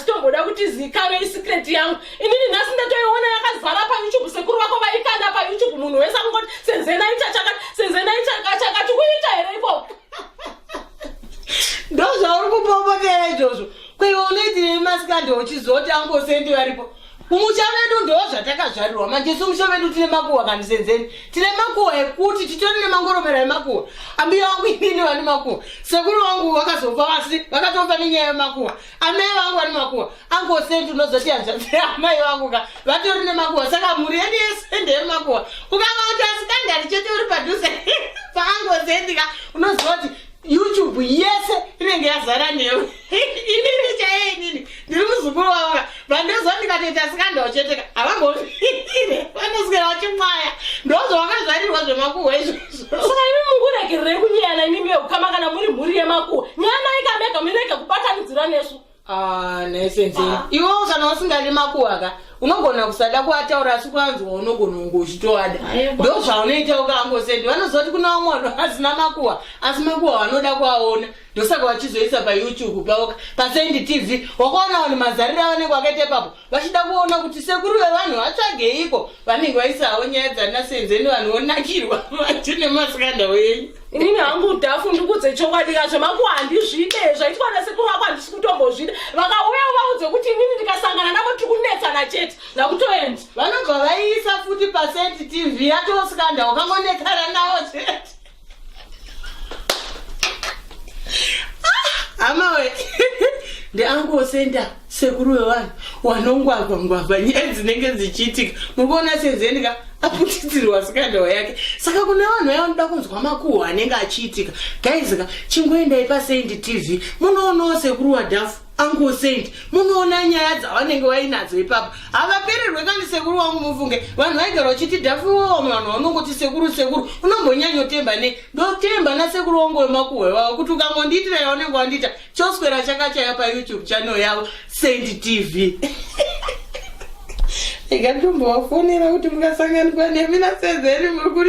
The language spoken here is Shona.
tomboda kuti zikanwe isecret yangu inini nhasi ndatoiona yakazara payoutube sekuru vako vaikanda payoutube munhu wese akungoti senzena ita chakati senzena ita chakati kuita here ikoko ndozvauri kupopotera izvozvo kweiwe unoitirei masikandi uchizoti angosendi varipo Kumusha vedu ndo zvatakazvarirwa manje isu musha vedu tine makuwa kani senzeni tine makuwa ekuti titori nemangoromera emakuwa ambuya wangu inini vane makuwa sekuru wangu vakazofa vasi vakatofa nenyaya yemakuwa amai vangu vane makuwa angosendi unozoti hanzvadzi amai vangu ka vatori nemakuwa saka mhuri yedu yese ndeyemakuwa ukanga kuti asikandari chete uri padhuze paangosendi ka unozoti youtube yese inenge yazara newe inini chaiye inini ndiri muzukuru wavo vandozwa ndikatoita sikanda ucheteka havamboire vanoswera vachimwaya ndozvavakazvarirwa zvemakuhwa izvozvo saka imi munguregerere kunyeyana imimi yeukama kana muri mhuri yemakuhwa nyana ikamega mirege kubatanidzira nesu ah, nesenzei ah. iwo kana usingadi makuhwa ka unogona kusada kuataura asi kwanzwa unogona kunge uchitoada ndo zvaunoita ukangosendi vanoziva kuti kuna umwe asina makuhwa asi makuhwa vanoda kuaona ndosaka vachizoisa payoutube pavo pasendi tv wakaona vanhu mazariro avanenge vakaita ipapo vachida kuona kuti sekuru vevanhu vatsvageiko vanenge vaisa havo nyaya dzana senzeni vanhu vonakirwa vati nemasikanda wenyu inini hangu udhafu ndikudze chokwadi kazvo mangu handizvide zvaitwa nasekuru vako handisi kutombozvida vakauya uvaudze kuti inini ndikasangana navo tiri kunetsana chete nakutoendi vanobva vaiisa futi pasendi tv yatosikandawo kangonetsana navo chete hamawe ndeangosenda sekuru wevanhu wanongwagwa ngwagwa nyaya dzinenge dzichiitika muri kuona senzendika aputitirwa sikandao yake saka kune vanhu vaya vanoda kunzwa makuhwa anenge achiitika gaizika chingoendai pasaindi tv munoonawo sekuru wadhafu Uncle Saint, munoona nyaya dzavanenge vainadzo ipapo havapererwe kani sekuru wangu mufunge vanhu vaigara vachiti dhafiwowo vanhu vanongoti sekuru sekuru unombonyanyotemba nei ndotemba nasekuru wangu wemakuhwe vavo kuti ukangondiitira yaunenge wandiita choswera chakachaya payoutube channel yavo saint tv ikatombovafonera kuti mungasanganikwa nemi nasezeri muri kuri